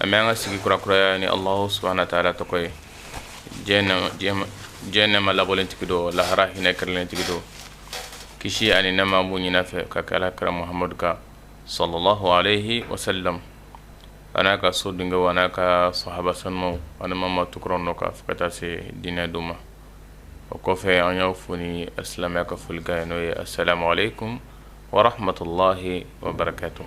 an bɛ an ka sigi kurakuraya ni alahu subahana wa taala tɔgɔ ye diɲɛ nɛma labɔlen tigi don lahara hinɛ kɛrɛlen tigi don kisi ani nɛma b'o ɲin'a fɛ ka kɛ ala kira muhamadu kan sallallahu alayhi wa sallam a n'a ka so dungew a n'a ka sahaba sanumaw ani maa maa tugura u nɔ kan fo ka taa se diinɛ don ma o kɔfɛ an y'aw fo ni silamɛya ka folikan ye n'o ye assalamu alaikum wa rahmatullahi wa barakatuh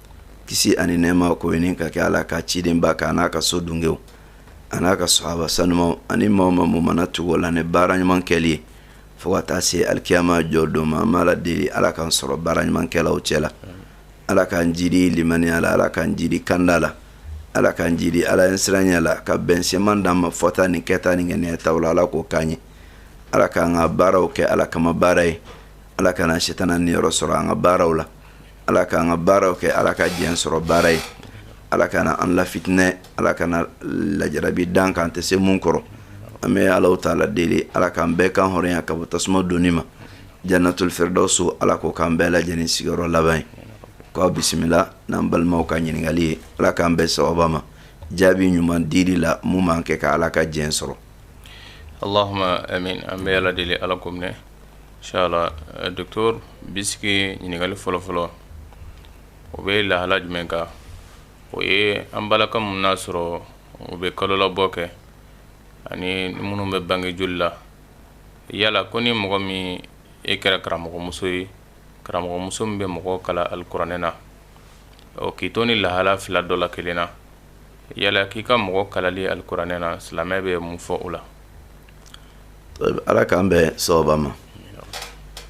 kisi ani nɛɛma k'o ɲini ka kɛ ala ka cidenba kan n'a ka so dungew a n'a ka sɔhaba sanumaw ani maa maa mun mana tugu u la ni baara ɲuman kɛli ye fo ka taa se alikiyama jɔ don ma an b'ala deli ala k'an sɔrɔ baara ɲumankɛlaw cɛ la ala k'an jidi limaniya la ala k'an jidi kanda la ala k'an jidi ala ɲɛsiranya la ka bɛn seman d'an ma fɔta ni kɛta ni ŋaniyataw la ala k'o k'an ye ala k'an ka baaraw kɛ ala kama baara ye ala kana setana niyɔrɔ sɔrɔ an ka baaraw la ala k'an ka baaraw kɛ ala ka diɲɛ sɔrɔ baara ye ala kana an lafitinɛ ala kana lajarabi dan kan tɛ se mun kɔrɔ an bɛ alaw taala deli ala k'an bɛɛ kan hɔrɔnya ka bɔ tasuma donni ma jannatul firdausu ala k'o k'an bɛɛ lajɛlen sigiyɔrɔ laban ye k'aw bisimila n'an balimaw ka ɲininkali ye ala k'an bɛn sawaba ma jaabi ɲuman dili la mun b'an kɛ ka ala ka diɲɛ sɔrɔ allahuma amin an bɛ ala deli ala k'o minɛ Nshallah dɔgɔtɔrɔ bi sigi ɲininkali fɔlɔfɔlɔ o bɛ lahala jumɛn kan o ye an balaka minnu y'a sɔrɔ u bɛ kalolabɔ kɛ ani minnu bɛ bange joli la yala ko ni mɔgɔ min i kɛra karamɔgɔmuso ye karamɔgɔmuso min bɛ mɔgɔ kalan alikuranɛ na o k'i to ni lahala fila dɔ la kelen na yala k'i ka mɔgɔ kalanni alikuranɛ na silamɛya bɛ mun fɔ o la ala k'an bɛn sawaba ma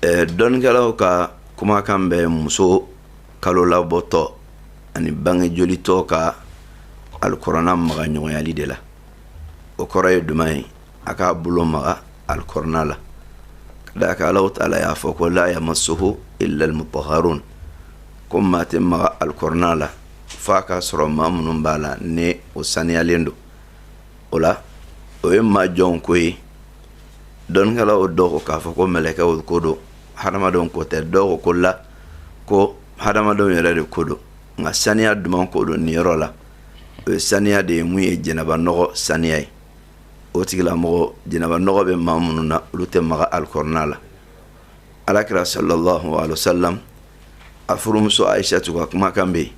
dɔnnikɛlaw ka kumakan bɛ muso kalo labɔtɔ ani bange jolitɔ ka alikuranna maga ɲɔgɔnyali de la o kɔrɔ ye duman ye a k'a bolo maga alikuranna la ka d'a kan alaw taala y'a fɔ ko la yamassuhu illa almutahharun ko maa tɛ maga alikuranna la fo a k'a sɔrɔ maa minnu b'a la ni o saniyalen don o la o ye maa jɔnw ko ye dɔnnikɛlaw dɔw ko k'a fɔ ko mɛlɛkɛw ko don hadamadenw ko tɛ dɔw ko ko la ko hadamadenw yɛrɛ de ko don nka saniya duman ko don nin yɔrɔ la o ye saniya de ye mun ye janaba nɔgɔ saniya ye o tigilamɔgɔ janaba nɔgɔ bɛ maa minnu na olu tɛ maga alikɔrɔna la alakira sallallahu alaihi wasallam a furumuso aisatu ka kumakan bɛ yen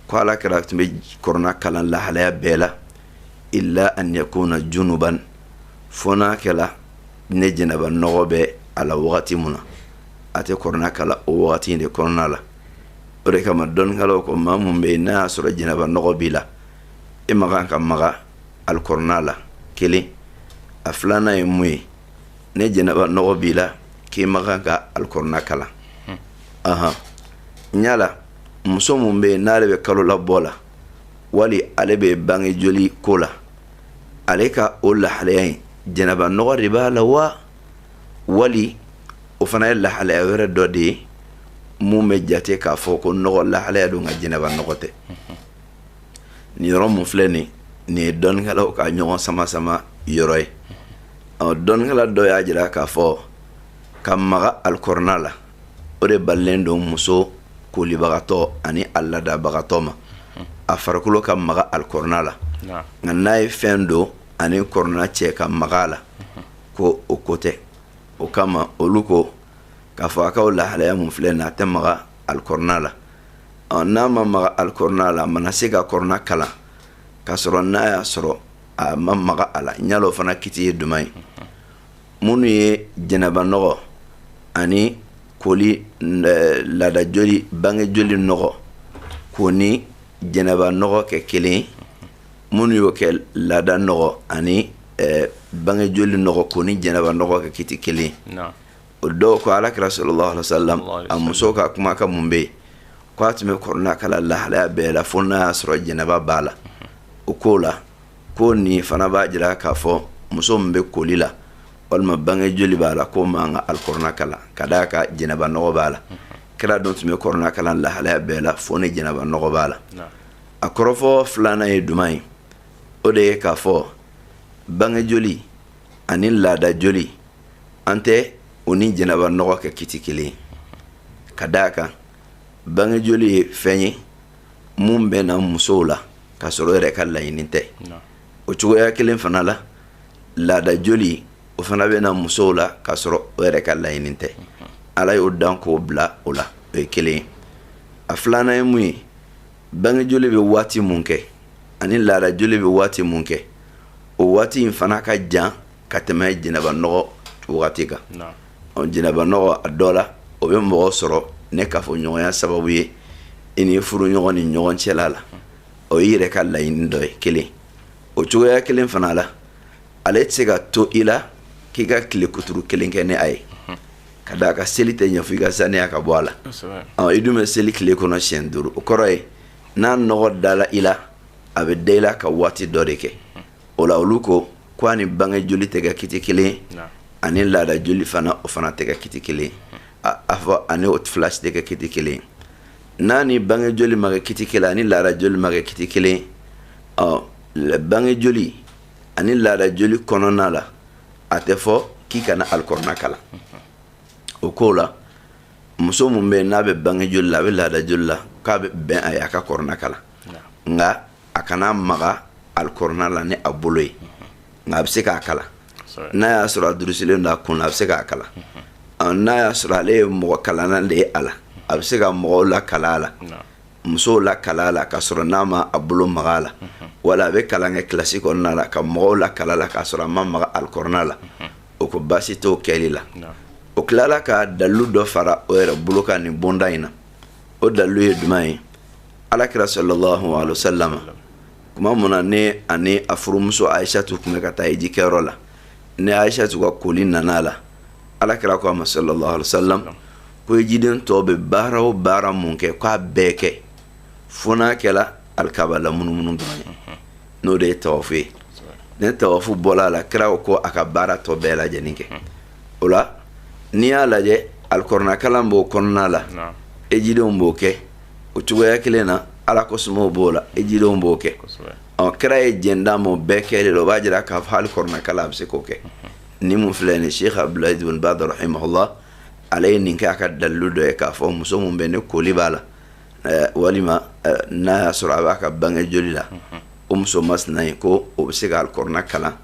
ko ala kira tun bɛ kɔrɔna kalan lahalaya bɛɛ la illa an yakuna junuban fo n'a kɛla ni jɛnɛba nɔgɔ bɛ a la wagati mun na a tɛ kɔrɔna kalan o wagati in de kɔnɔna la o de kama dɔnnikɛlaw ko maa mun bɛ yen n'a y'a sɔrɔ jɛnɛba nɔgɔ b'i la e man kan ka maga alikɔrɔna la kelen a filanan ye mun ye ni jɛnɛba nɔgɔ b'i la k'i man kan ka alikɔrɔna kalan hmm. ahan yala muso mun bɛ yen n'ale bɛ kalolabɔ la wali ale bɛ bange joli ko la ale ka o lahalaya in jɛnɛba nɔgɔ de b'a la wa wali o fana ye lahalaya wɛrɛ dɔ de ye mun bɛ jate k'a fɔ ko nɔgɔ lahalaya don nka jɛnɛba nɔgɔ tɛ hmm. nin yɔrɔ mun filɛ nin nin ye dɔnnikɛlaw ka ɲɔgɔn sama sama yɔrɔ ye ɔ dɔnnikɛla dɔ y'a jira k'a fɔ ka maga alikɔrɔna la o de balilen don muso kolibagatɔ ani a laadabagatɔ ma a farikolo ka maga alikɔrɔna la nka n'a ye fɛn don a ni kɔrɔna cɛ ka maga a la ko o ko tɛ o kama olu ko k'a fɔ a ka o lahalaya mun filɛ nin a tɛ maga alikɔrɔna la ɔ n'a ma maga alikɔrɔna la a mana se ka kɔrɔna kalan k'a sɔrɔ n'a y'a sɔrɔ a ma maga a la yala o fana kiti ye juman ye minnu ye jɛnɛba nɔgɔ ani koli eh, laada joli bange joli nɔgɔ k'o ni jɛnɛba nɔgɔ kɛ kelen ye minnu y'o kɛ laada nɔgɔ ani eh, bange joli nɔgɔ k'o ni jɛnɛba nɔgɔ kɛ kiti kelen ye o dɔw ko ala kira sallallahu alaihi wasallam a muso ka kumakan mun bɛ yen ko a tun bɛ kɔrɔna kalan lahalaya bɛɛ la fo n'a y'a sɔrɔ jɛnɛba b'a la o k'o la ko nin fana b'a jira k'a fɔ muso min bɛ koli la walima bange joli b'a la k'o man kan ka alikɔrɔna kalan ka d'a kan jɛnɛba nɔgɔ b'a la kira dun tun bɛ kɔrɔna kalan lahalaya bɛɛ la fo ni jɛnɛba nɔgɔ b'a la a kɔrɔfɔ filanan ye juman ye o de ye k'a fɔ bange joli ani laada joli an tɛ o ni jɛnɛba nɔgɔ kɛ kiti kelen ye ka da a kan bange joli ye fɛn ye mun bɛ na musow la k'a sɔrɔ o yɛrɛ ka laɲini tɛ o cogoya kelen fana la laada joli o fana bɛ na musow la k'a sɔrɔ o yɛrɛ ka laɲini tɛ ala y'o dan k'o bila o la o ye kelen ye a filanan ye mun ye bange joli bɛ waati mun kɛ ani laada joli bɛ waati mun kɛ o waati in fana ka jan ka tɛmɛ jɛnɛba nɔgɔ wagati kan jɛnɛba nɔgɔ a dɔ la o bɛ mɔgɔ sɔrɔ ni kafoɲɔgɔnya sababu ye i n'i furuɲɔgɔn ni ɲɔgɔn cɛla la o y'i yɛrɛ ka laɲini dɔ ye kelen o cogoya kelen fana la ale tɛ se ka to i la k'i ka tile kuturu kelen kɛ ni a ye ka da a kan seli tɛ ɲɛ fo i ka saniya ka bɔ a la i dun bɛ seli tile kɔnɔ siyɛn duuru o kɔrɔ ye n'a nɔgɔ dala i la a bɛ da i la ka waati dɔ de kɛ o la olu ko ko a ni bange joli tɛ kɛ kiti kelen ye ani laada joli fana o fana tɛ kɛ kiti kelen ye a fɔ ani o fila si tɛ kɛ kiti kelen ye n'a ni bange joli ma kɛ kiti kelen ani laada joli ma kɛ kiti kelen ye ɔ bange joli ani laada joli kɔnɔna la a tɛ fɔ k'i kana alikɔrɔna kalan o ko la muso min bɛ n'a bɛ bange joli la a bɛ laada joli la k'a bɛ bɛn a ye a ka kɔrɔna kalan nka a kana maga alikɔrɔna la ni a bolo ye nka a bɛ se k'a kalan n'a y'a sɔrɔ a durusilen don a kun na a bɛ se k'a kalan n'a y'a sɔrɔ ale ye mɔgɔ kalanna de ye a la a bɛ se ka mɔgɔw lakalan a la musow lakalan a la k'a sɔrɔ n'a ma a bolo maga a la wala a bɛ kalan kɛ kilasi kɔnɔna la ka mɔgɔw lakalan a la k'a sɔrɔ a ma maga alikɔrɔna la o ko baasi t'o kɛli la o tilala ka dalilu dɔ fara o yɛrɛ bolo kan nin bonda in na o dalilu ye jumɛn ye alakira sallallahu alaihi wasallam tuma mun na ni a ni a furumuso ayisatu tun bɛ ka taa hiji kɛyɔrɔ la ni ayisatu ka koli nana a la alakira ko a ma sallallahu alaihi wasallam ko hijiden tɔ bɛ baara o baara mun kɛ k'a bɛɛ kɛ fo n'a kɛla alikaba lamunumunu dɔrɔn ye n'o de ye tawafu ye ni tawafu bɔla a la kira ko a ka baara tɔ bɛɛ lajɛlen kɛ. o la n'i y'a lajɛ alikɔrɔna kalan b'o kɔnɔna la hijidenw b'o kɛ o cogoya kelen na ala kofɔ b'o la hijidenw b'o kɛ ɔ kira ye jɛn d'a ma o bɛɛ kɛli la o b'a jira k'a fɔ alikɔrɔna kalan a bɛ se k'o kɛ nin min filɛ nin sheikh abdul aziz bin baz rahimahullah ale ye nin kɛ a ka dalilu dɔ ye k'a fɔ muso min bɛ ni koli b'a la walima n'a y'a sɔrɔ a b'a ka bange joli la o muso masina ye ko o bɛ se k'alikɔrɔna kalan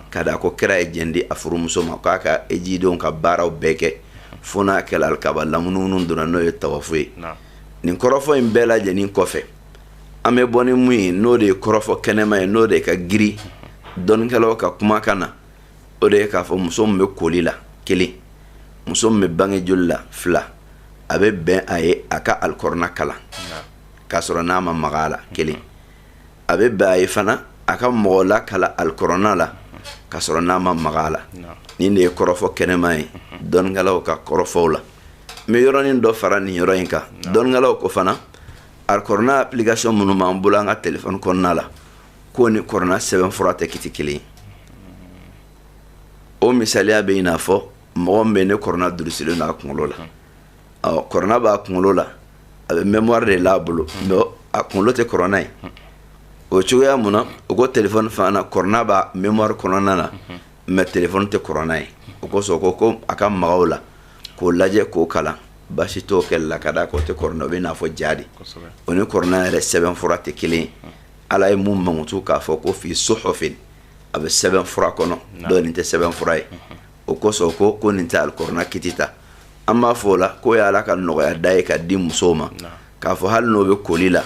ka da a kan kira ye jɛn di a furumuso ma k'a ka hijidenw ka baaraw bɛɛ kɛ fo n'a kɛla alikaba lamunumunu dɔrɔn n'o ye tawafu ye nin kɔrɔfɔ in bɛɛ lajɛlen kɔfɛ an bɛ bɔ ni mun ye n'o de ye kɔrɔfɔ kɛnɛma ye n'o de ka giri dɔnnikɛlaw ka kumakan na o de ye k'a fɔ muso min bɛ koli la kelen muso min bɛ bange joli la fila a bɛ bɛn a ye a ka alikɔrɔna kalan k'a sɔrɔ n'a ma maga a la kelen a bɛ bɛn a ye fana a ka mɔgɔ lakalan alikɔrɔna la ka sɔrɔ n'a ma maga a la nin de ye kɔrɔfɔ kɛnɛma ye dɔnnikɛlaw ka kɔrɔfɔw la n bɛ yɔrɔnin dɔ fara nin yɔrɔ in kan dɔnnikɛlaw ko fana alikɔrɔna application minnu b'an bolo an ka telefɔni kɔnɔna la k'o ni kɔrɔna sɛbɛn fura tɛ kiti kelen ye o misaliya bɛ i n'a fɔ mɔgɔ min bɛ ne kɔrɔna durusilen don a kunkolo la ɔ kɔrɔna b'a kunkolo la a bɛ mémoire de l'a bolo mais a kunkolo tɛ kɔrɔna ye o cogoya mun na o ko telefɔni fana kɔrɔna b'a mémoire kɔnɔna na mais telefɔni tɛ kɔrɔna ye o kosɔn ko ko a ka maga o la k'o lajɛ k'o kalan baasi t'o kɛli la ka d'a kan o tɛ kɔrɔna o bɛ n'a fɔ ja de o ni kɔrɔna yɛrɛ sɛbɛn fura tɛ kelen ye ala ye mun mankutu k'a fɔ ko fi suhufin a bɛ sɛbɛn fura kɔnɔ donc nin tɛ sɛbɛn fura ye o kosɔn ko ko nin tɛ alikɔrɔna kiti ta an b'a fɔ o la k'o ye ala ka nɔgɔya da ye k'a di musow ma k'a fɔ hali n'o bɛ koli la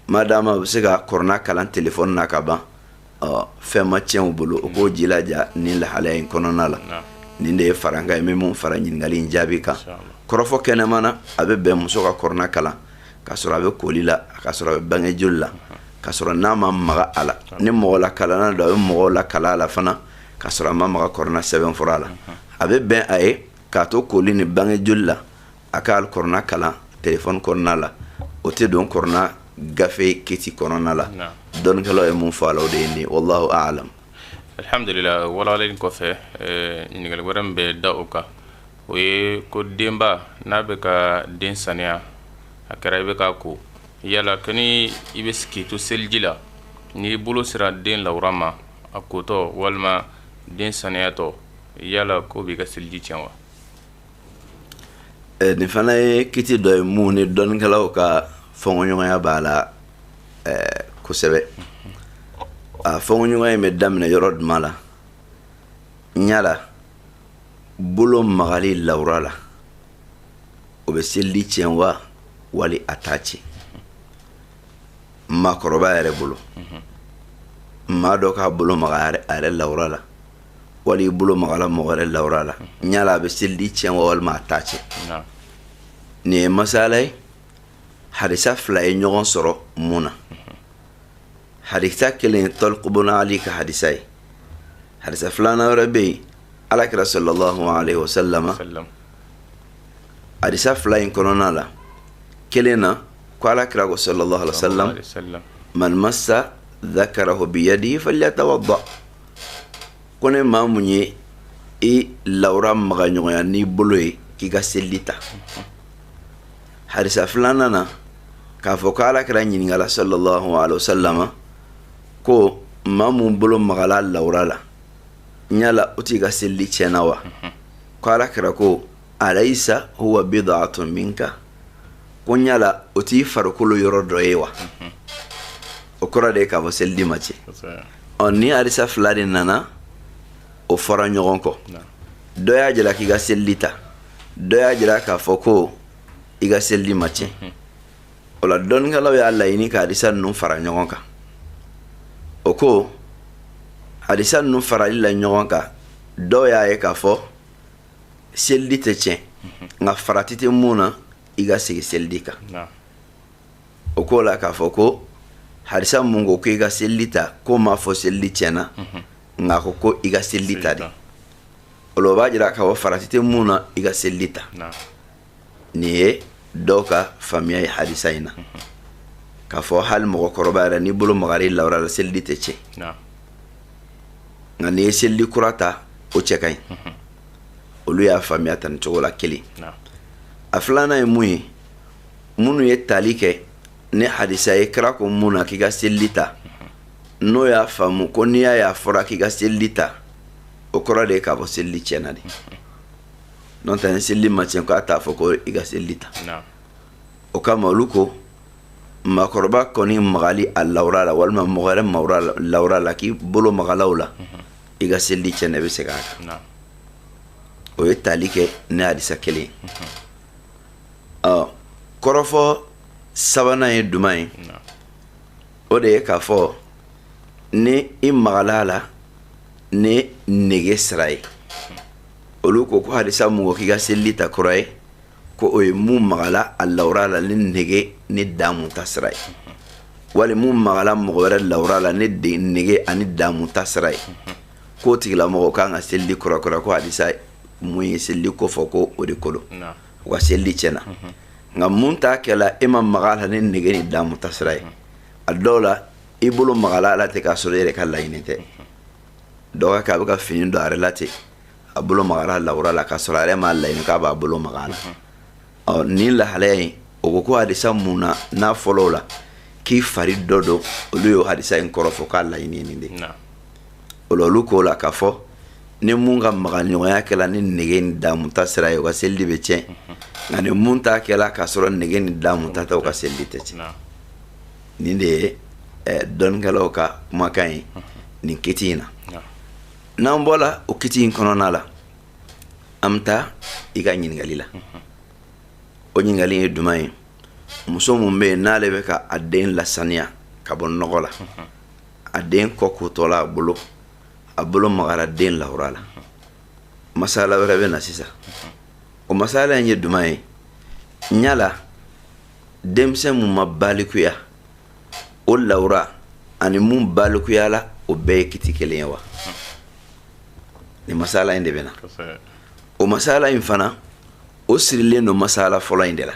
madamuw bɛ se ka kɔrɔna kalan telefɔni na ka ban fɛn ma tiɲɛ u bolo o k'o jilaja nin lahalaya in kɔnɔna la nin de ye farankan ye min minnu fara ɲininkali in jaabi kan kɔrɔfɔ kɛnɛma na a bɛ bɛn muso ka kɔrɔna kalan ka sɔrɔ a bɛ koli la ka sɔrɔ a bɛ bange joli la ka sɔrɔ n'a ma maga a la ni mɔgɔ lakalanna don a bɛ mɔgɔ lakalan a la fana ka sɔrɔ a ma maga kɔrɔna sɛbɛn fura la a bɛ bɛn a ye k'a to koli ni bange joli la a ka kɔrɔna kalan telefɔni kɔnɔna la o tɛ don kɔrɔna gafe kiti kɔnɔna la dɔnnikɛlaw ye mun fɔ a la o de ye nin wallahu a'lam alhamdulillah walalen kɔfɛ eh, ɲininkali wɛrɛ min bɛ da o kan o ye ko denba n'a bɛ ka den saniya a kɛra i bɛ k'a ko yala kani i bɛ k'i to seliji la n'i bolo sera den lawura ma a kotɔ walima den saniyatɔ yala k'o b'i ka seliji tiɲɛ wa eh, nin fana ye kiti dɔ ye mun ni dɔnnikɛlaw ka fɔnkɔɲɔgɔnya b'a la eh, kosɛbɛ a fɔnkɔɲɔgɔnya in bɛ daminɛ yɔrɔ duma la yala bolo magali lawura la o bɛ seliji tiɲɛ wa wali a t'a tiɲɛ maakɔrɔba yɛrɛ bolo maa dɔ k'a bolo maga a yɛrɛ lawura la wali i bolo magala mɔgɔ wɛrɛ lawura la yala a bɛ seliji tiɲɛ wa walima a t'a tiɲɛ nin ye masala ye hadisa fila ye ɲɔgɔn sɔrɔ mun na hadisa kelen ye tɔliku bun ali ka hadisa ye hadisa filanan wɛrɛ bɛ yen ala kira sallallahu alayhi wa sallam hadisa fila in kɔnɔna la kelen na ko ala kira ko sallallahu alaihi wasallam man massa dhakarahu bi yadihi falyatawadda ko ne maa mun ye i lawura maga ɲɔgɔnya n'i bolo ye k'i ka selili ta hadisa filanan na k'a fɔ ko ala kira ɲininkala sallallahu alaihi wasallama ko maa mun bolo magala lawura la yala o tigi ka selili tiɲɛna wa ko ala kira ko alayisa huwa bidatun minka ko n yala o t'i farikolo yɔrɔ dɔ ye wa o kɔrɔ de ye k'a fɔ selili ma tiɲɛ ɔ ni hadisa fila de nana o fɔra ɲɔgɔn kɔ dɔ y'a jira k'i ka selili ta dɔ y'a jira k'a fɔ ko i ka selili ma tiɲɛ o la dɔnnikɛlaw y'a laɲini ka hadisa ninnu fara ɲɔgɔn kan o ko hadisa ninnu farali la ɲɔgɔn kan dɔw y'a ye k'a fɔ selili tɛ tiɲɛ mhm. nka farati tɛ mun na i ka segin selili kan o k'o la k'a fɔ ko hadisa mun ko ko i ka selili ta k'o m'a fɔ selili tiɲɛna mhm. nka a ko ko i ka selili ta de o la o b'a jira k'a fɔ farati tɛ mun na i ka selili ta nin ye dɔw ka faamuya ye hadisa in na k'a fɔ hali mɔgɔkɔrɔba yɛrɛ n'i bolo magara i lawura la selili tɛ tiɲɛ nka n'i ye selili kura ta o cɛ ka ɲi olu y'a faamuya tan nin cogo la kelen a filanan ye mun ye minnu ye tali kɛ ni hadisa ye kira ko mun na k'i ka selili ta n'o y'a faamu ko n'i y'a y'a fɔra k'i ka selili ta o kɔrɔ de ye k'a fɔ selili tiɲɛna de n'o tɛ ni selili ma tiɲɛ k'a t'a fɔ ko i ka selili ta o kama olu ko maakɔrɔba kɔni magali a lawura la walima mɔgɔ wɛrɛ lawura la k'i bolo magala u la mhm. i ka selili tiɲɛna i bɛ segin a kan o ye tali kɛ ni hadisa kelen ye mhm. ɔ kɔrɔfɔ sabanan ye jumɛn ye o de ye k'a fɔ ni i magala a la ni nege sira ye olu ko ko hadisa mun ko k'i ka selili ta kura ye ko o ye mun magala a lawura la ni nege ni damu ta sira ye wali mun magala mɔgɔ wɛrɛ lawura la ni nege ani damu ta sira ye k'o tigilamɔgɔ kan ka selili kura kura ko hadisa mun ye selili ko fɔ ko o de ko lo u ka selili tiɲɛna nka mun ta kɛla e ma maga a la ni nege ni damu ta sira ye a dɔw la i bolo magala a la ten k'a sɔrɔ e yɛrɛ ka laɲini tɛ dɔ ka kɛ a bɛ ka fini don a yɛrɛ la ten a bolo magara lawura la k'a sɔrɔ a yɛrɛ m'a laɲini k'a b'a bolo maga a la ɔ nin lahalaya in o ko ko hadisa mun nana fɔlɔ la k'i fari dɔ don olu y'o hadisa in kɔrɔfɔ k'a laɲini ye nin de ye o la olu k'o la k'a fɔ ni mun ka maga ɲɔgɔnya kɛla ni nege ni damuta sira ye o ka selidi bɛ tiɲɛ nka ni mun ta kɛla k'a sɔrɔ nege ni damuta tɛ o ka selidi tɛ tiɲɛ nin de ye eh, dɔnnikɛlaw ka kumakan ye nin kiti in na n'an bɔra o kiti in kɔnɔna la an bɛ taa i ka ɲininkali la o ɲininkali ye duman ye muso mun bɛ yen n'ale bɛ ka a den lasaniya ka bɔ nɔgɔ la a den kɔ kotɔla a bolo a bolo magara den lawura la masala wɛrɛ bɛ na sisan o masala in ye duman ye yala denmisɛn mun ma balikuya o lawura ani mun balikuya la o bɛɛ ye kiti kelen ye wa nin masala in de bɛ na o masala in fana o sirilen don masala fɔlɔ in de la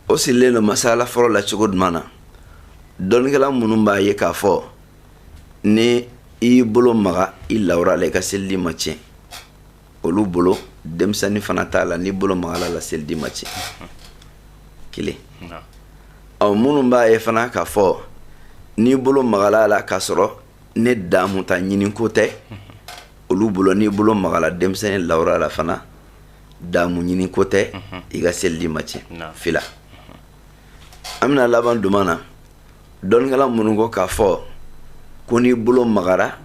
o sirilen don masayala fɔlɔ la cogo duman na dɔnnikɛla minnu b'a ye k'a fɔ ni i y'i bolo maga i lawura la i ka selidi ma tiɲɛ olu bolo denmisɛnnin fana ta la n'i bolo magala a la selidi ma tiɲɛ kelen ɔ minnu b'a ye fana k'a fɔ n'i bolo magala a la k'a sɔrɔ ni damu ta ɲini ko tɛ olu bolo n'i bolo magala denmisɛnnin lawura la fana damu ɲini ko tɛ i ka selidi ma tiɲɛ fila an bɛna laban duman na dɔnnikɛla minnu ko k'a fɔ ko n'i bolo magara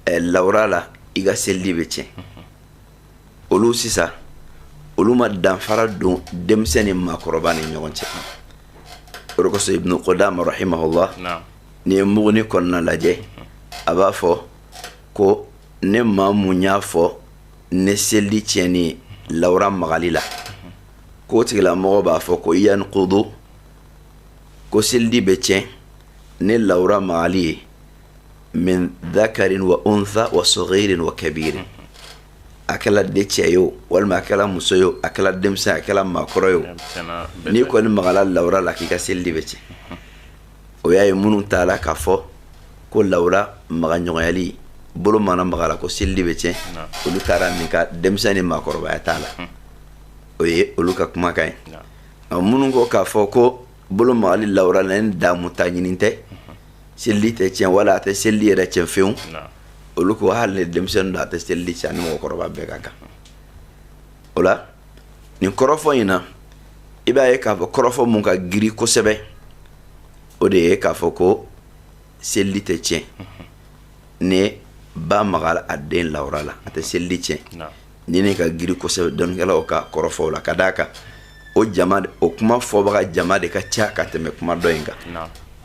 eh, lawura la i ka selidi bɛ tiɲɛ olu sisan olu ma danfara don denmisɛn ni maakɔrɔba ni ɲɔgɔn cɛ o de kosɔn ibnu kudama rahimahullah n'i ye muguni kɔnɔna lajɛ a b'a fɔ ko ni maa mun y'a fɔ ni selidi tiɲɛni lawura magali la k'o tigilamɔgɔ b'a fɔ ko yankudu ko selidi bɛ tiɲɛ ni lawura magali ye min dakarin wa unsa wa sagirin wa kabirin a kɛla de cɛ ye o walima a kɛla muso ye o a kɛla denmisɛn a kɛla maakɔrɔ ye o n'i kɔni magala lawura la k'i ka selidi bɛ tiɲɛ o y'a ye minnu taala k'a fɔ ko lawura maga ɲɔgɔnyali bolo mana maga a la ko selidi bɛ tiɲɛ olu taara min kan denmisɛn ni maakɔrɔbaya t'a la hmm. o ye olu ka kumakan ye minnu ko k'a fɔ ko bolo magali lawura la ni damu ta ɲini tɛ hmm. selidi tɛ tiɲɛ wala a tɛ selidi yɛrɛ tiɲɛ fewu olu ko hali ni denmisɛnnin don a tɛ selidi tiɲɛ ni mɔgɔkɔrɔba bɛɛ ka kan o la nin kɔrɔfɔ in na i b'a ye k'a fɔ kɔrɔfɔ mun ka giri kosɛbɛ o de ye k'a fɔ ko selidi tɛ tiɲɛ ni ba magala a den lawura la a tɛ selidi tiɲɛ nin de ka giri kosɛbɛ dɔnnikɛlaw ka kɔrɔfɔw la ka d'a kan o jama o kuma fɔbaga jama de ka ca ka tɛmɛ kuma dɔ in kan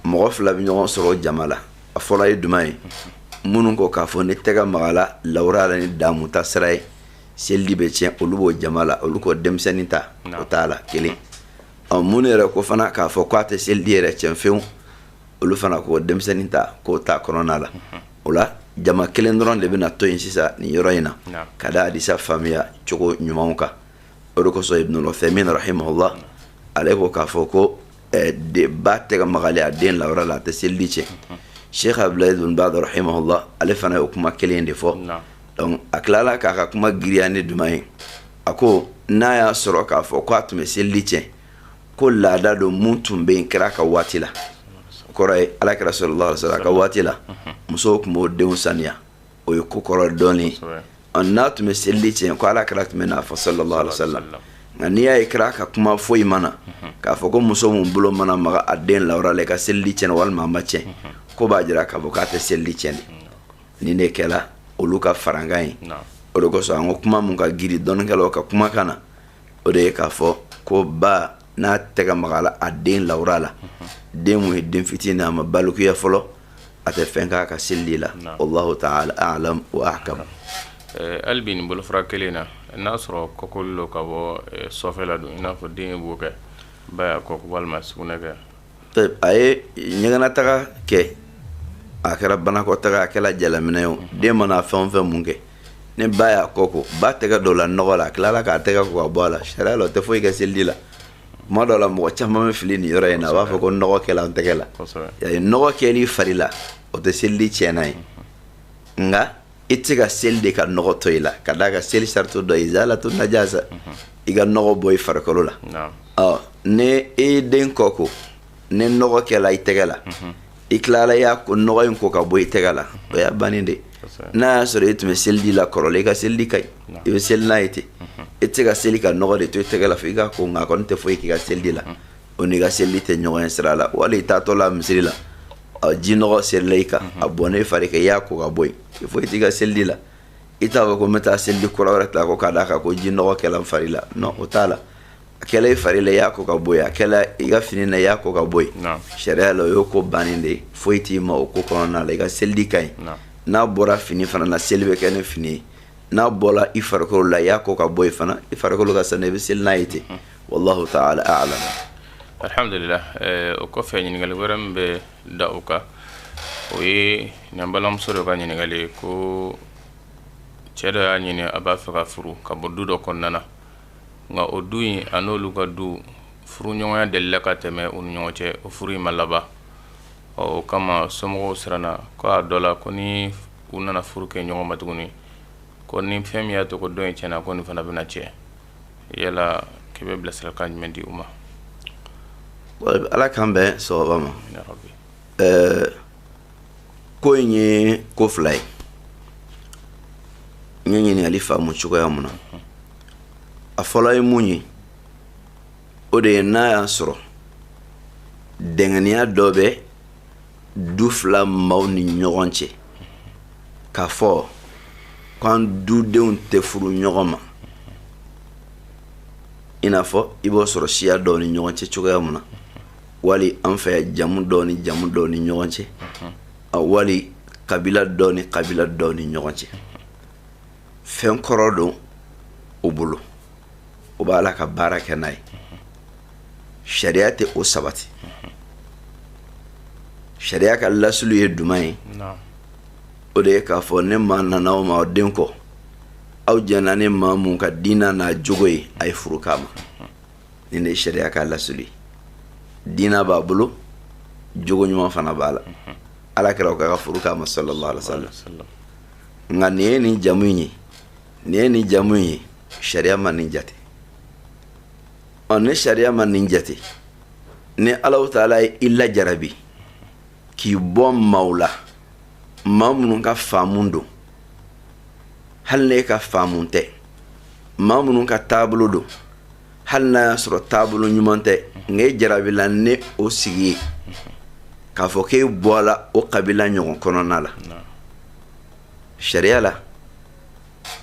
mɔgɔ fila bɛ ɲɔgɔn sɔrɔ jama la a fɔlɔ ye juman ye minnu ko k'a fɔ n'i tɛgɛ magala lawura la ni damuta sira ye selidi bɛ tiɲɛ olu b'o jama la olu ko denmisɛnnin ta o t'a la kelen ɔ minnu yɛrɛ ko fana k'a fɔ k'a tɛ selidi yɛrɛ tiɲɛ fewu olu fana ko denmisɛnnin ta k'o t'a kɔnɔna la mhm. o la jama kelen dɔrɔn de bɛna to yen sisan nin yɔrɔ in na ka da hadisa faamuya cogo ɲumanw kan o de kosɔn ibnul uthaymin rahimahullah ale ko k'a fɔ ko eh, denba tɛgɛ magali a den lawura la a tɛ selidi tiɲɛ sheikh abdulaziz bin baz rahimahullah ale fana y'o kuma kelen de fɔ donc a tilala k'a ka kuma giriya ni juman ye a ko n'a y'a sɔrɔ k'a fɔ ko a tun bɛ selidi tiɲɛ ko laada don mun tun bɛ yen kira ka waati la kɔrɔ ye ala kira sallallahu alaihi wasallam ka waati la musow tun b'o denw saniya o ye ko kɔrɔ dɔɔni n'a tun bɛ selidi tiɲɛ ko ala kira tun bɛn'a fɔ sallallahu alaihi wasallam nka n'i y'a ye kira ka kuma foyi ma na mhm. k'a fɔ ko muso min bolo mana maga a den lawura la i ka selidi tiɲɛna walima a ma tiɲɛ mhm. k'o b'a jira k'a fɔ k'a tɛ selidi tiɲɛ de nin de kɛla olu ka farankan ye o de kosɔn an ko kuma mun ka giri dɔnnikɛlaw ka kumakan na o de ye k'a fɔ ko ba n'a tɛgɛ magala a den lawura la mhm. den mun ye den fitinin a ma balikuya fɔlɔ a tɛ fɛn k'a ka selidi la wallahu taala a'lam wa ahkam eh, hali bi nin bolofara kelen na n'a sɔrɔ kɔkoli don ka bɔ eh, sɔfɛ la don i n'a fɔ den ye bo kɛ ba y'a kɔ ko walima sugunɛ kɛ a ye ɲɛgɛnataga kɛ a kɛra banakɔtaga a kɛra jalaminɛ ye o mhm. den mana fɛn o fɛn mun kɛ ni ba y'a kɔ ko ba tɛgɛ donna nɔgɔ la a tilala k'a tɛgɛ ko k'a bɔ a la sariya la o tɛ foyi kɛ selidi la tuma dɔ la mɔgɔ caman bɛ fili nin yɔrɔ in na a b'a fɔ ko nɔgɔ kɛla an tɛgɛ la nɔgɔ kɛli fari la o tɛ selidi tiɲɛnan ye nka i tɛ se ka seli de ka nɔgɔ to i la ka d'a kan seli sarati dɔ ye izalatu najasa i ka nɔgɔ bɔ i farikolo la ɔ ni i den kɔ ko ni nɔgɔ kɛla i tɛgɛ la i tilala y'a ko nɔgɔ in ko k'a bɔ i tɛgɛ la o y'a bannen de n'a y'a sɔrɔ e tun bɛ selidi la kɔrɔlen i ka selidi ka ɲi i bɛ seli n'a ye ten e tɛ se ka seli ka nɔgɔ de to i tɛgɛ la fo i k'a ko nka a kɔni tɛ foyi k'i ka selidi la o n'i ka selidi tɛ ɲɔgɔn ye sira la wali i taatɔ la misiri la ji nɔgɔ serila i kan a bɔnna i fari kan i y'a ko k'a bɔ yen foyi t'i ka selidi la i t'a fɔ ko n bɛ taa selidi kura wɛrɛ ta ko ka d'a kan ko ji nɔgɔ kɛla n fari la non o t'a la a kɛla i fari la i y'a ko ka bɔ yen a kɛla i ka fini na i y'a ko ka bɔ yen sariya la o y'o ko bannen de ye foyi t'i ma o ko kɔnɔna la i ka seli de ka ɲi n'a bɔra fini fana na seli bɛ kɛ ni fini ye n'a bɔra i farikolo la i y'a ko ka bɔ yen fana i farikolo ka sanu i bɛ seli n'a ye ten mhm. wallahu ta'ala a'lam alhamdulillah eh, o kɔfɛ ɲininkali wɛrɛ min bɛ da o kan o ye an balimamuso dɔ ka ɲininkali ye ko cɛ dɔ y'a ɲini a b'a fɛ ka furu ka bɔ du dɔ kɔnɔna na nka o du in a n'olu ka du furuɲɔgɔnya delila ka tɛmɛ u ni ɲɔgɔn cɛ o furu in ma laban ɔ o kama somɔgɔw siranna ko a dɔ la ko ni u nana furu kɛ ɲɔgɔn ma tuguni ko ni fɛn min y'a to ko dɔ in tiɲɛna ko nin fana bɛna tiɲɛ yala k'i bɛ bilasiralikan jumɛn di u ma ala k'an bɛn sawaba ma ko in ye ko fila ye n ye ɲininkali faamu cogoya mun na a fɔlɔ ye mun ye o de ye n'a y'a sɔrɔ dɛngɛniya dɔ bɛ du fila maaw ni ɲɔgɔn cɛ k'a fɔ k'an dudenw tɛ furu ɲɔgɔn ma i n'a fɔ i b'o sɔrɔ siya dɔw ni ɲɔgɔn cɛ cogoya mun na wali an fɛ yan jamu dɔw ni jamu dɔw ni ɲɔgɔn cɛ wali kabila dɔw ni kabila dɔw ni ɲɔgɔn cɛ fɛn kɔrɔ don o bolo o b'a la ka baara kɛ n'a ye sariya tɛ o sabati sariya ka lasulu ye jumɛn ye o de ye k'a fɔ ni maa nana aw ma aw den kɔ aw jɛnna ni maa mun ka diina n'a jogo ye a ye furu k'a ma nin de ye sariya ka lasulu ye diina b'a bolo jogo ɲuman fana b'a la ala kira ko ka furu k'a ma sallallahu alaihi wa sallam nka nin ye nin jamu in ye nin ye nin jamu in ye sariya ma nin jate ɔ ni sariya ma nin jate ni alahu taala ye i lajarabi k'i bɔ maaw la maa minnu ka faamu don hali n'e ka faamu tɛ maa minnu ka taabolo don hali n'a y'a sɔrɔ taabolo ɲuman tɛ nka e jarabila ni o sigi ye k'a fɔ k'e bɔla o kabila ɲɔgɔn kɔnɔna la sariya la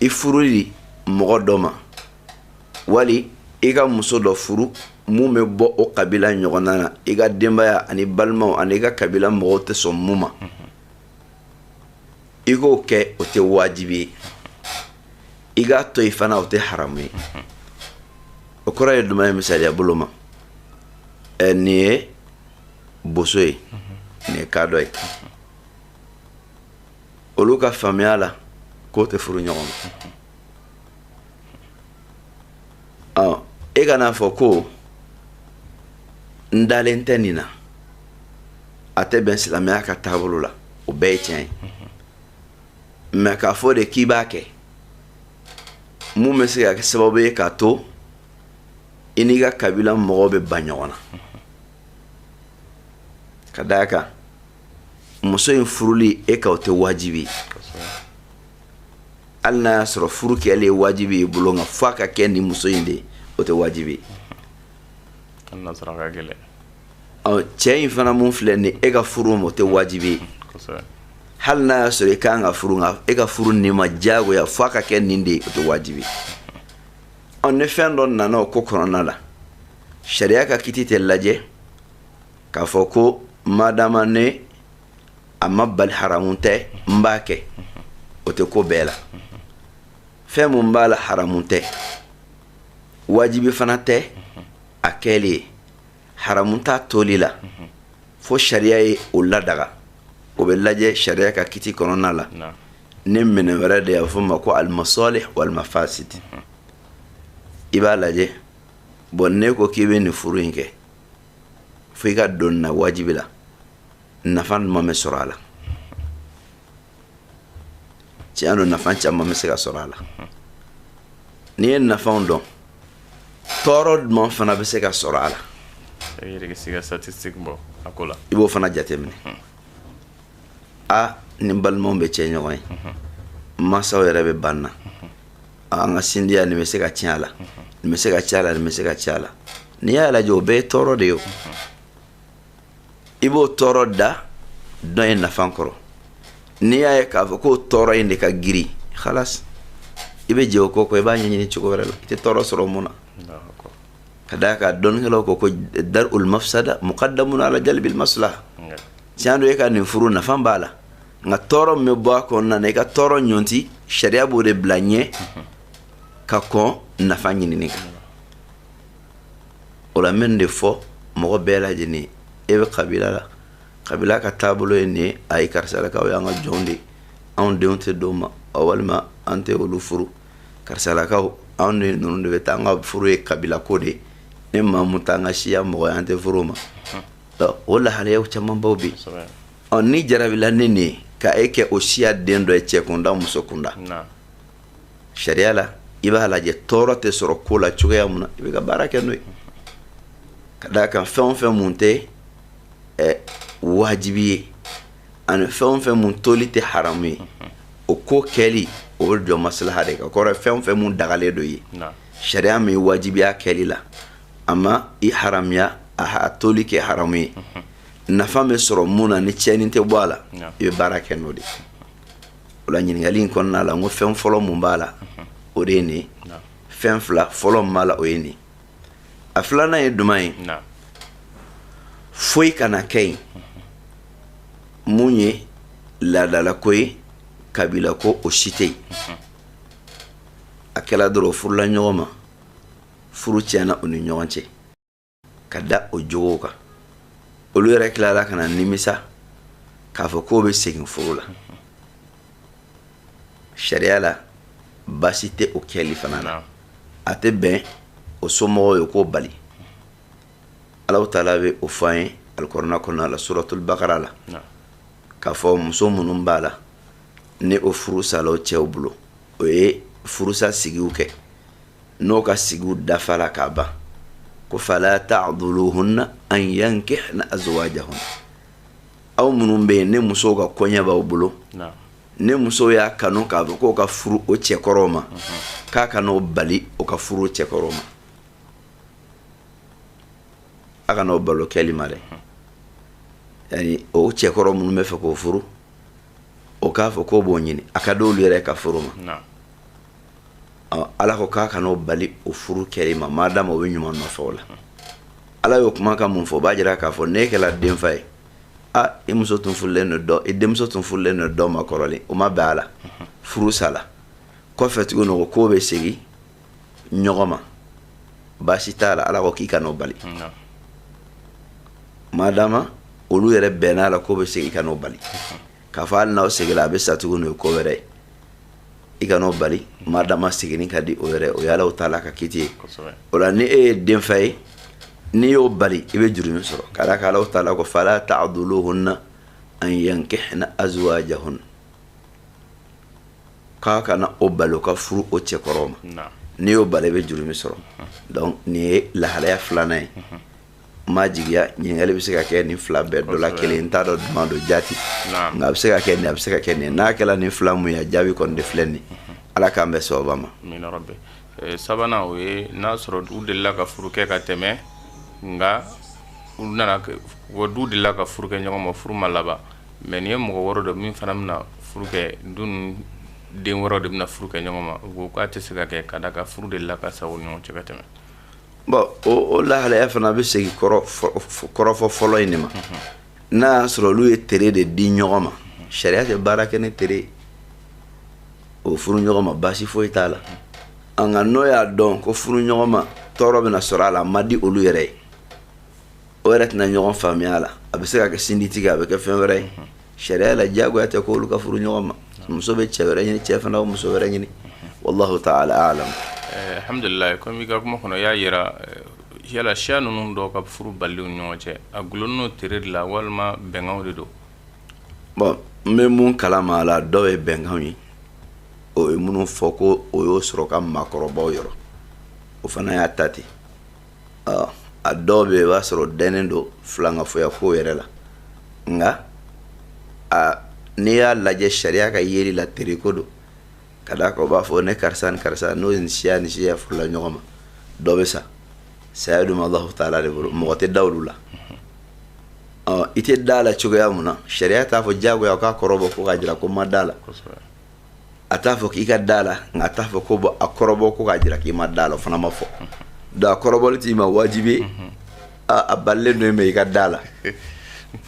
i furu di mɔgɔ dɔ ma wali i ka muso dɔ furu mun bɛ bɔ o kabila ɲɔgɔnna na i ka denbaya ani balimaw ani i ka kabila mɔgɔw tɛ sɔn mun ma i k'o kɛ o tɛ wajibi ye i k'a to yen fana o tɛ haramu ye o kɔrɔ ye jumɛn ye misaliya bolo ma ɛ nin ye boso ye nin ye kadɔ ye olu ka faamuya la k'o tɛ furu ɲɔgɔn ma ɔ e kan'a fɔ ko n dalen tɛ nin na a tɛ bɛn silamɛya ka taabolo la o bɛɛ ye tiɲɛ ye mɛ k'a fɔ de k'i b'a kɛ mun bɛ se ka kɛ sababu ye k'a to i n'i ka kabila mɔgɔw bɛ ban ɲɔgɔn na ka d'a kan muso in furuli e kan o tɛ wajibi ye hali n'a y'a sɔrɔ furu kɛlen ye wajibi ye i bolo nka f'a ka kɛ nin muso in de ye o tɛ wajibi ye cɛ in fana mun filɛ nin e ka furu ma o tɛ wajibi ye hali n'a y'a sɔrɔ i kan ka furu nka e ka furu nin ma diyagoya f'a ka kɛ nin de ye o tɛ wajibi ye ni fɛn dɔ nana o ko kɔnɔna la sariya ka kiti tɛ lajɛ k'a fɔ ko madama ne a ma bali haramu tɛ n b'a kɛ o tɛ ko bɛɛ la fɛn mun b'a la haramu tɛ wajibi fana tɛ a kɛli ye haramu t'a toli la fo sariya ye o ladaga o bɛ lajɛ sariya ka kiti kɔnɔna la ni minɛn wɛrɛ de y'a fɔ ma ko almasalih walmafasid i b'a lajɛ bɔn ne ko k'i bɛ nin furu in kɛ fo i ka don na wajibi la nafa jumɛn bɛ sɔrɔ a la tiɲɛ don nafa caman bɛ se ka sɔrɔ a la n'i ye nafaw dɔn tɔɔrɔ jumɛn fana bɛ se ka sɔrɔ a la i yɛrɛ bɛ se ka statistique bɔ a ko la i b'o fana jateminɛ a ni balimaw bɛ cɛ ɲɔgɔn ye n masaw yɛrɛ bɛ ban n na an ka sinjiya nin bɛ se ka tiɲɛ a la nin bɛ se ka tiɲɛ a la nin bɛ se ka tiɲɛ a la n'i y'a lajɛ o bɛɛ ye tɔɔrɔ de ye o i b'o tɔɔrɔ da dɔ ye nafa kɔrɔ n'i y'a ye k'a fɔ k'o tɔɔrɔ in de ka girin halas i bɛ jɛ o ko kɔ i b'a ɲɛɲini cogo wɛrɛ la i tɛ tɔɔrɔ sɔrɔ mun na ka d'a kan dɔnnikɛlaw ko ko dar ul mafsada muqaddamun ala jalbil maslaha tiɲɛ don e ka nin furu nafa b'a la nka tɔɔrɔ min bɛ bɔ a kɔnɔna na i ka tɔɔrɔ ɲɔnti sariya b'o de bila ɲɛ ka kɔn nafa ɲinini kan o la n bɛ nin de fɔ mɔgɔ bɛɛ lajɛlen e bɛ kabila la kabila ka taabolo ye nin ye ayi karisalakaw y'an ka jɔnw de anw denw tɛ d'o ma walima an tɛ olu furu karisalakaw anw de ninnu de t'an ka furu ye kabila ko de ni maa mun t'an ka siya mɔgɔ an tɛ furu ma o lahalayaw camanbaw bɛ yen n'i jarabila ni nin ye ka e kɛ o siya den dɔ ye cɛ kunda muso kunda sariya la i b'a lajɛ tɔɔrɔ tɛ sɔrɔ ko la cogoya mun na i bɛ ka baara kɛ n'o ye ka d'a kan fɛn o fɛn mun tɛ wajibi ye ani fɛn o fɛn mun toli tɛ haramu ye o ko kɛli o bɛ jɔ maslaha de kan kɔrɔ fɛn o fɛn mun dagalen don ye sariya ma i wajibiya kɛli la a ma i haramiya a toli kɛ haramu ye mhm. nafa bɛ sɔrɔ mun na ni tiɲɛni tɛ bɔ a la i bɛ baara kɛ n'o de ye o la ɲininkali in kɔnɔna la n ko fɛn fɔlɔ mun b'a la mhm. o de ye nin ye fɛn fila fɔlɔ min b'a la o ye nin ye a filanan ye juman ye foyi kana kɛ yen mhm. mun ye laadalako ye kabila ko o si tɛ yen a kɛla dɔrɔn furula ɲɔgɔn ma furu tiɲɛna o ni ɲɔgɔn cɛ ka da o jogow kan olu yɛrɛ tilara ka na nimisa k'a fɔ k'o bɛ segin furu la sariya la baasi tɛ o kɛli fana na a tɛ bɛn o somɔgɔw ye k'o bali Alahu taala bɛ o fɔ an ye alikurana kɔnɔna la suratul bakara la k'a fɔ muso minnu b'a la ni o furu sala o cɛw bolo o ye furusa sigiw kɛ n'o ka sigiw dafala ka ban ko fala ta'duluhunna an yankihna azwajahunna aw minnu bɛ yen ni musow ka koɲɛ b'aw bolo ni musow y'a kanu k'a fɔ k'o ka furu o cɛkɔrɔw ma k'a kan'o bali o ka furu o cɛkɔrɔw ma a kana o bali o kɛli ma dɛ yani o cɛkɔrɔ minnu bɛ fɛ k'o furu o k'a fɔ k'o b'o ɲini a ka d'olu yɛrɛ ka furu ma ala ko k'a kana o bali o furu kɛli ma madama o bɛ ɲuman nɔfɛ o la ala y'o kuma ka mun fɔ o b'a jira k'a fɔ n'e kɛra denfa ye a i muso tun furulen don dɔ i denmuso tun furulen don dɔ ma kɔrɔlen o ma bɛn a la furu sala kɔfɛ tuguni o k'o bɛ segin ɲɔgɔn ma baasi t'a la ala ko k'i kan'o bali madama olu yɛrɛ bɛnn'a la k'o bɛ segin i kan'o bali k'a fɔ hali n'aw seginna a bɛ sa tuguni o ye ko wɛrɛ ye i kan'o bali madama seginni ka di o yɛrɛ o ye Alahu taala ka kiti ye o la ni e ye denfa ye n'i y'o bali i bɛ jurumi sɔrɔ ka d'a kan Alahu taala ko fala ta'duluhunna an yankihna azwajahunna k'a kana o bali o ka furu o cɛkɔrɔw ma n'i y'o bali i bɛ jurumi sɔrɔ donc nin ye lahalaya filanan ye n b'a jigi a ɲininkali bɛ se ka kɛ nin fila bɛɛ dɔ la kelen n t'a dɔn juman don jati nka a bɛ se ka kɛ nin a bɛ se ka kɛ nin n'a kɛra nin fila mun ye a jaabi kɔni de filɛ nin ala k'an bɛn sawaba ma eh, sabanan o ye n'a sɔrɔ u delila ka furu kɛ ka tɛmɛ nka u nana wa du delila ka furu kɛ ɲɔgɔn ma furu ma laban Mɛ nin ye mɔgɔ wɛrɛ dɔ min fana bɛna furu kɛ don den wɛrɛ de bɛna furu kɛ ɲɔgɔn ma ko k'a tɛ se ka kɛ ka d'a kan furu delila ka sa o ɲɔgɔn cɛ ka tɛmɛ bɔn o lahalaya fana a bɛ segin kɔrɔfɔ fɔlɔ in de ma n'a y'a sɔrɔ olu ye tere de di ɲɔgɔn ma sariya tɛ baara kɛ ni tere ye o furu ɲɔgɔn ma baasi foyi t'a la an nka n'o y'a dɔn ko furu ɲɔgɔn ma tɔɔrɔ bɛna sɔrɔ a la a ma di olu yɛrɛ ye o yɛrɛ tɛna ɲɔgɔn faamuya la a bɛ se ka kɛ sinji tigɛ a bɛ kɛ fɛn wɛrɛ ye sariya la diyagoya tɛ k'olu ka furu ɲɔgɔn ma muso bɛ cɛ wɛrɛ ɲini cɛ fana bɛ muso wɛrɛ ɲini wallahu ta'ala a'lam eh, alhamdulillah comme i ka kuma kɔnɔ y'a yira eh, yala siya ninnu dɔw ka furu bali u ni ɲɔgɔn cɛ a gulonnen don tere de la walima bɛnkanw de don bon n bɛ mun kalama a la dɔw ye bɛnkanw ye o ye minnu fɔ ko o y'o sɔrɔ ka maakɔrɔbaw yɔrɔ o fana y'a ta ten a dɔw bɛ yen i b'a sɔrɔ dɛnen don filankafoya ko yɛrɛ la nka n'i y'a lajɛ sariya ka yeli la tereko don ka d'a kan u b'a fɔ ni karisa ni karisa n'o ni siya ni siya furula ɲɔgɔn ma dɔ bɛ sa saya dun Allahu taala de bolo mɔgɔ tɛ da olu la i tɛ da la cogoya mun na sariya t'a fɔ diyagoya o k'a kɔrɔbɔ ko k'a jira ko n ma da la a t'a fɔ k'i ka da la nka a t'a fɔ ko bɔn a kɔrɔbɔ ko k'a jira k'i ma da la o fana ma fɔ donc a kɔrɔbɔli t'i ma wajibi a balilen don mɛ i ka da la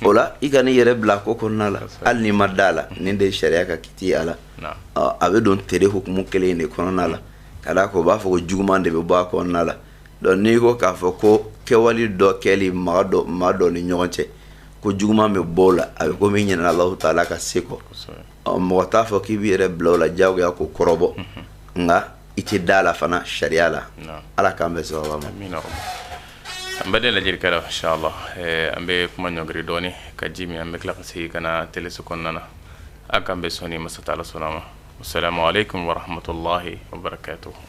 o la i kan'i yɛrɛ bila ko kɔnɔna la hali n'i ma da la nin de ye sariya ka kiti a la a bɛ don tere hukumu kelen de kɔnɔna la ka d'a kan o b'a fɔ ko juguman de bɛ bɔ a kɔnɔna la donc n'i ko k'a fɔ ko kɛwale dɔ kɛli maa dɔ maa dɔ ni ɲɔgɔn cɛ ko juguman bɛ bɔ o la a bɛ komi i ɲinɛna Alahu taala ka se kɔ mɔgɔ t'a fɔ k'i b'i yɛrɛ bila o la diyagoya k'o kɔrɔbɔ nka i tɛ da la fana sariya la ala k'an bɛn sawaba ma an baden lajɛlikɛlaw inshallah an bɛ kuma ɲɔngiri dɔɔni ka ji min an bɛ tila ka segin ka na teleso kɔnɔna na a k'an bɛn sɔɔni ni masa taala sɔnna ma assalamu alaikum warahmatullahi wabarakatuh